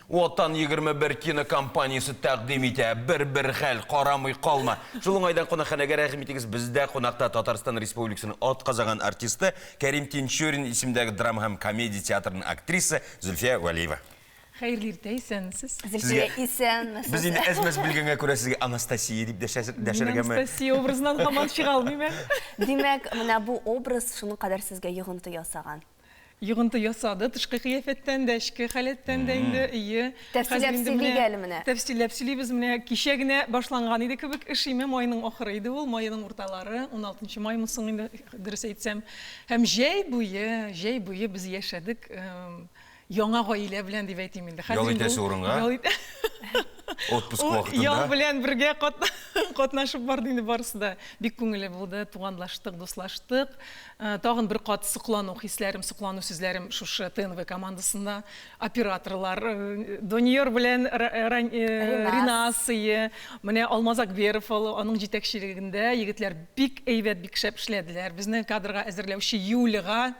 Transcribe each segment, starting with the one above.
Ватан егерме бер кинокомпаниясе тәкъдим итә. Бер-бер хәл, карамый калма. Шул уңайдан кунакханәгә рәхим итегез, бездә кунакта Татарстан Республикасының атказаган артисты, Кәрим Тинчурин исемендәге драма һәм комедия театрының актрисы Зөлфия Вәлиева. Хәерле иртә, исәнмесез. Зөлфия, исәнмесез. Без инде әз-мәз белгәнгә күрә сезгә Анастасия дип дәшәргәме? Мин Анастасия образыннан һаман чыга алмыйм әле. Димәк, менә бу образ шуның кадәр сезгә йогынты ясаган. йогынты ясады, тышкы кыяфәттән дә, эчке халәттән дә инде, ие. Тәфсилләп сөйлик әле менә. Тәфсилләп сөйлибез менә. Кичә генә башланган иде кебек эш, име, майның ахыры иде ул, майның урталары, уналтынчы маймы соң инде, дөрес әйтсәм. Һәм җәй буе, җәй буе без яшәдек яңа гаилә белән дип әйтим инде. Ял итәсе урынга? Отпуск вакытында? Ял белән бергә катнашып барды инде барысы да. Бик күңелле булды, туганлаштык, дуслаштык. Тагын бер кат соклану хисләрем, соклану сүзләрем шушы ТНВ командасына, операторлар, Дониер белән Ринасые, менә Алмаз Акберов, аның җитәкчелегендә егетләр бик әйбәт, бик шәп эшләделәр. Безне кадрга әзерләүче Юлига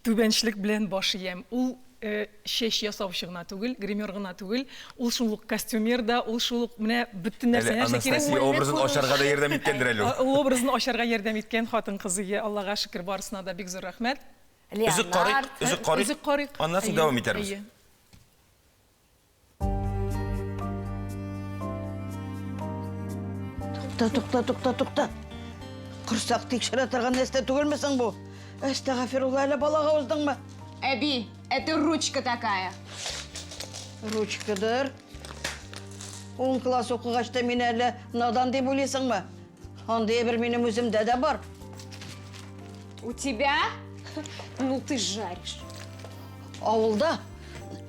түбәнчлек белән баш иям. Ул Э, чәч ясаучы гына түгел, гример гына түгел, ул шул ук костюмер да, ул шул ук менә бөтен нәрсә, Әле нәрсә кирәк. Анастасия образын ачарга да ярдәм иткәндер әле ул. Ул образын ачарга ярдәм иткән хатын-кыз, ие, Аллага шөкер, барысына да бик зур рәхмәт. Леонард. Өзек карыйк, өзек карыйк, аннан соң дәвам итәрбез. Тукта, тукта, тукта, тукта. Курсак тикшерә торган нәрсә түгелме соң бу? Әстәгафирулла, әле балага уздыңмы? Әби, это ручка такая. Ручкадыр. Он класс укыгач та мине әле надан дип уйлыйсыңмы? Андый әйбер минем үземдә дә бар. У тебя? Ну ты жаришь. Авылда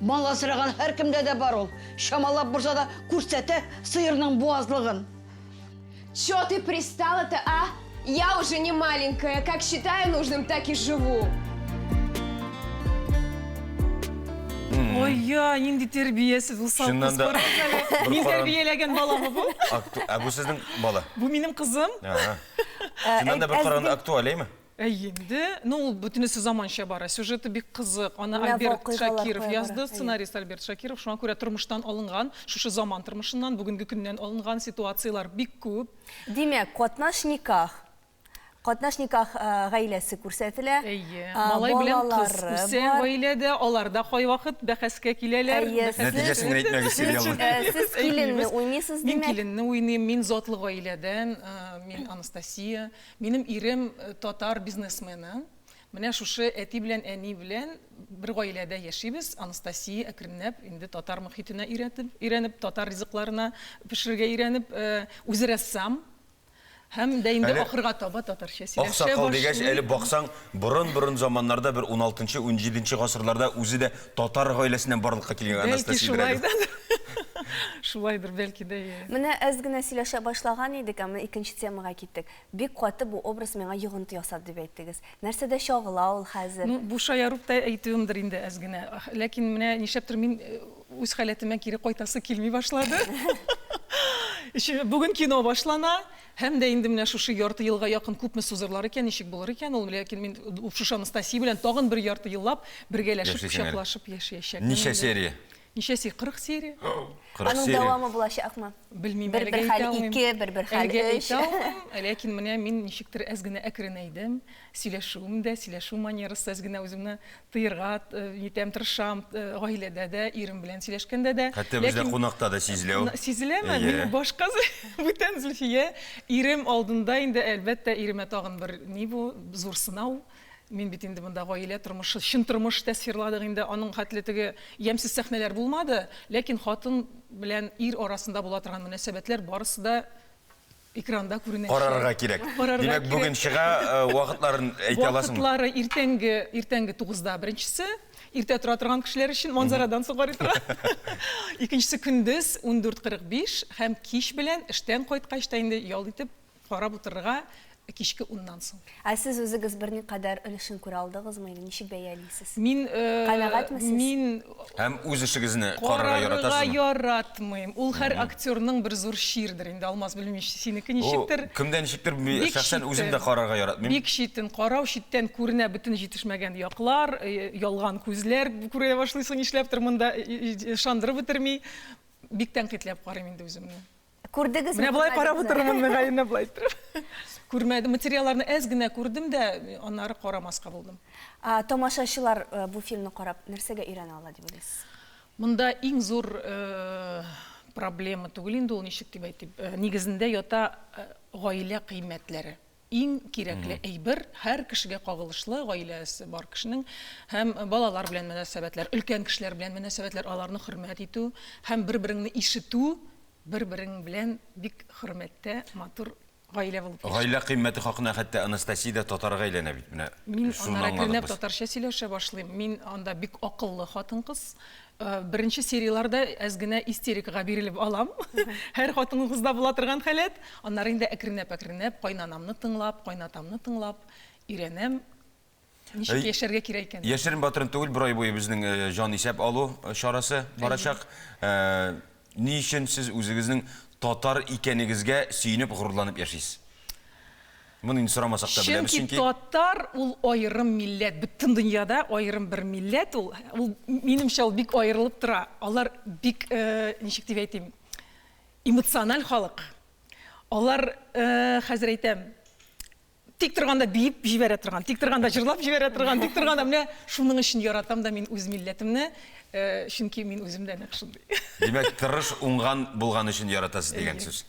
мал асраган һәркемдә дә бар ул. Чамалап булса да күрсәтә сыерның буазлыгын. Чё ты пристала-то, а? Я уже не маленькая, как считаю нужным, так и живу. Ой, я, нинди тәрбиясез ул Чыннан да- салкын. Мин Боркаран. тәрбияләгән баламы бу? Акту- Ә бу сезнең Бала. Бу минем кызым. Ага. Ә, Синнән дә бер әз- караганда актуаль, әйме? Әй инде, ну ул бөтенесе заманча бара. Сюжеты бик кызык. Аны Менә Альберт вакыйгалар Шакиров кая язды, бара, әйе. сценарист Альберт Шакиров. Шуңа күрә тормыштан алынган, шушы заман тормышыннан, бүгенге көннән алынган ситуацияләр бик күп. Димәк, катнаш никах. Катнаш никах гаиләсе күрсәтелә. Әйе, малай белән кыз үсә гаиләдә, алар да кайвакыт бәхәскә киләләр. Нәтиҗәсен әйтмәгез, сериалның. Сез киленне уйныйсыз, димәк? Мин киленне уйныйм, мин затлы гаиләдән, мин Анастасия. Минем ирем татар бизнесмены. Менә шушы әти белән әни белән бер гаиләдә яшибез. Анастасия әкренләп инде татар мохитенә өйрәтеп, өйрәнеп, татар ризыкларына пешерергә өйрәнеп, үзе рәссам, Һәм дә инде ахырга таба татарча сөйләшә башлый. Аксакал дигәч, әле баксаң, борын-борын заманнарда, бер уналтынчы, унҗиденче гасырларда үзе дә татар гаиләсеннән барлыкка килгән Анастасия Ибраһимова. Бәлки шулайдыр. Шулайдыр, бәлки дә, ия. Менә әз генә сөйләшә башлаган идек, ә менә икенче темага киттек. Бик каты бу образ миңа йогынты ясады, дип әйттегез. Нәрсәдә чагыла ул хәзер? Ну, бу шаярып та әйтүемдер инде әз генә. Ләкин менә нишләптер мин Үз халәтемә кире кайтасы килми башлады. Өчен бүген кино башлана. Һәм дә инде менә шушы ярты елга якын күпме сузырлар икән, ничек булыр икән ул? Ләкин мин Шушы Анастасия белән тагын бер ярты еллап бергәләшеп, Яшисең әле. кочаклашып яшәячәкмен. Ничә инде. серия? Ничә серия? 40 серия. 40 Аның серия. дәвамы булачакмы? Белмим, Бер- әлегә бер хәл әйтә алмыйм. ике, бер- бер хәл Әлегә өч. әйтә алмыйм, ләкин менә мин ничектер әз генә әкренәйдем. Сөйләшүем дә, сөйләшү манерасы, әз генә үземне тыерга итәм, тырышам, гаиләдә дә, ирем белән сөйләшкәндә дә. Хәтта бездә кунакта да сизелә ул. Сизеләме? Минем башка бүтән Зөлфия. Ирем алдында инде, әлбәттә, иремә тагын бер ни бу, зур сынау. Мин бит инде монда гаилә тормышы, чын тормыш тасвирладык инде, аның хәтле теге ямьсез сәхнәләр булмады, ләкин хатын белән ир арасында була торган мөнәсәбәтләр барысы да Экранда күренә. Карарга кирәк. Димәк, бүген чыга, вакытларын әйтә аласыңмы? Вакытлары иртәнге, иртәнге тугызда беренчесе, иртә тора торган кешеләр өчен манзарадан соң карый тора. Икенчесе көндез 14:45 һәм кич белән эштән кайткач та инде ял итеп карап утырырга кичке уннан соң. Ә сез үзегез берникадәр өлешен күрә алдыгызмы или ничек бәялисез? Мин, Канәгатьме сез? мин Һәм үз эшегезне карарга яратасызмы? Карарга яратмыйм. Ул һәр актерның бер зур чирдер инде, Алмаз, белмим, синеке ничектер. Ул кемдә ничектер, шәхсән үзем дә карарга яратмыйм. Бик читен карау, читтән күренә бөтен җитешмәгән яклар, ялган күзләр күрә башлыйсың, нишләптер монда ышандырып бетерми. Бик тәнкыйтьләп карыйм инде үземне. Күрдегез Менә болай карап утырмын, мөгаенә болай торып. Күрмәдем, материалларны әз генә күрдем дә, аннары карамаска булдым. Тамашачылар э, бу фильмны карап нәрсәгә өйрәнә ала дип уйлыйсыз? Монда иң зур э, проблема түгел инде ул ничек дип әйтим. Э, нигезендә ята гаилә кыйммәтләре. Иң кирәкле әйбер, һәр кешегә кагылышлы, гаиләсе бар кешенең һәм балалар белән мөнәсәбәтләр, өлкән кешеләр белән мөнәсәбәтләр, аларны хөрмәт итү һәм бер-береңне ишетү, бер-берең белән бик хөрмәттә, матур гаилә булып яшәү. Гаилә кыйммәте хакына хәтта Анастасия дә татарга әйләнә бит, менә шуны аңладык без. Мин аннары әкренләп татарча сөйләшә башлыйм. Мин анда бик акыллы хатын-кыз, Э, беренче серияларда әз генә истерикага бирелеп алам һәр хатыныбызда була торган халәт аннары инде әкренләп әкренләп кайнанамны тыңлап кайнатамны тыңлап өйрәнәм ничек яшәргә кирәк икән яшерен батырын түгел бер ай буе безнең э, җан исәп алу э, чарасы барачак ни өчен сез үзегезнең татар икәнегезгә сөенеп горурланып яшисез Моны инде сорамасак та беләбез, чөнки. Чөнки татар ул аерым милләт, бөтен дөньяда аерым бер милләт ул. Ул, минемчә, ул бик аерылып тора. Алар бик, ничек дип әйтим, эмоциональ халык. Алар, хәзер әйтәм, тик торганда биеп җибәрә торган, тик торганда җырлап җибәрә торган, тик торганда, менә шуның өчен яратам да мин үз милләтемне, чөнки мин үзем дә нәкъ шундый. Димәк, тырыш, уңган булган өчен яратасыз дигән сүз.